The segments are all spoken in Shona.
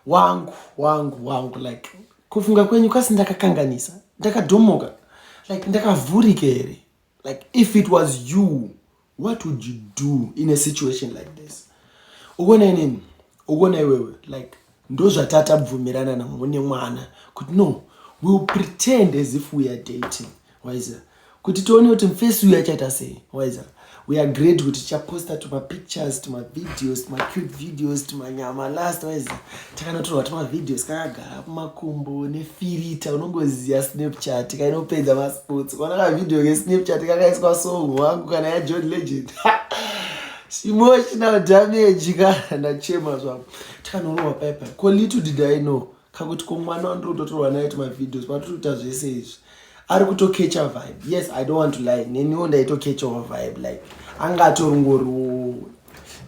wangu wangu wangu like kufunga kwenyu kasi ndakakanganisa ndakadhomoka like ndakavhurika here like if it was you what would you do in a situation like this ukuona inini ukuona iwewe like ndozvatatabvumirana navo nemwana kuti no wewill pretend as if we are dating waiza kuti tione kuti mfesi uyu achaita sei waiza we agreed kuti tichaposta tumapictures tumavideos tumacute videos tumanyama last wise takanotorwa tumavideos kakagara kumakumbo nefirita unongoziva snapchat kainopedza masports kona kavideo kesnapchat kakaiswa song wangu kana yajohn legend emotional damage ka ndachema zvangu takanorohwa paipai ko little did i know kakuti ko mwana wandiri kutotorwa naye tumavideos patiri kuita zvese izvi ari kutokecha vibe yes i don't want to lie neniwo ndaitokechawo vibe like anga atoringoriwo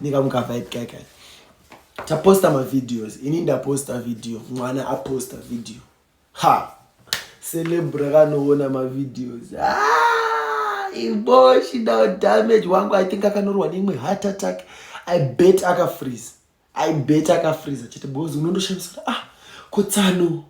ndikamuka vibe kaka taposta mavideos ini ndaposta video mwana aposta video ha celebr akanoona mavideos ah, iboshi now damage wangu i think akanorwa neimwe heart attack i bet akafreeze I bet akafreeza chete because unondoshamisa ah kotsano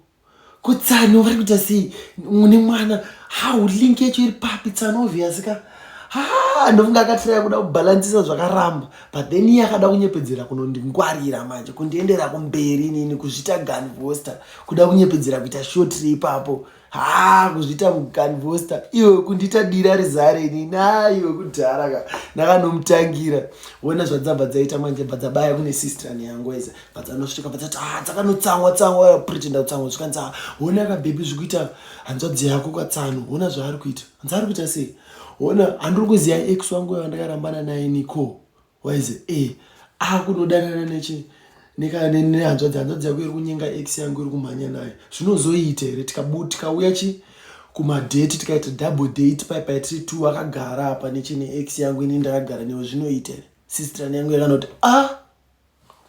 kotsano vari kuita sei mune mwana how link yacho iri papi tsano obvious ka ha ndofunga akatiraya kuda kubhalansisa zvakaramba but then iye akada kunyepedzera kunondingwarira manje kundiendera kumberi nini kuzvita gun voster kuda kunyepedzera kuita shotri ipapo haa kuzviita mukanvosta iwe kundiita dira rizare ini naiwe kudhara ka ndakanomutangira wona zvadzabva dzaita manje bva dzabaya kune sistran yangu eza bva dzanosvika bva dzati haa ah, dzakanotsangwa tsangwa yapretenda kutsangwa zvikanzi haa wona ka bhebhi zviri kuita hanzvadzi yako kwatsano wona zvaari kuita hanzi ari kuita sei wona handiri kuziva ex wangu yavandakarambana naye niko waize e akunodanana nechi nehanzvadzi hanzvadzi yako iri kunyenga x yangu iri kumhanya nayo zvinozoita here tikauya chi kumadate tikaita double date pai pai tiri two akagara apa nechine x yangu ini ndakagara newe zvinoita here sistran yangu yakanoti a ah,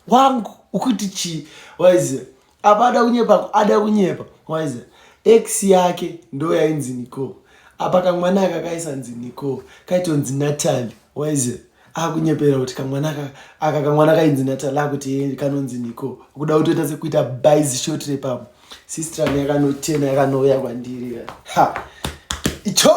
wangu ukuti chii waize apa ada kunyepa ada kunyepa waiza ex yake ndo yainzi nicole apa kamwana aka kaisanzi nicole kaitonzi natali waiza akunyepera kuti kamwana aka aka kamwana kainzi natali akuti kanonzi nicole kuda kutoita sekuita bais short repamo sistran yakanotena yakanouya kwandiri ha icho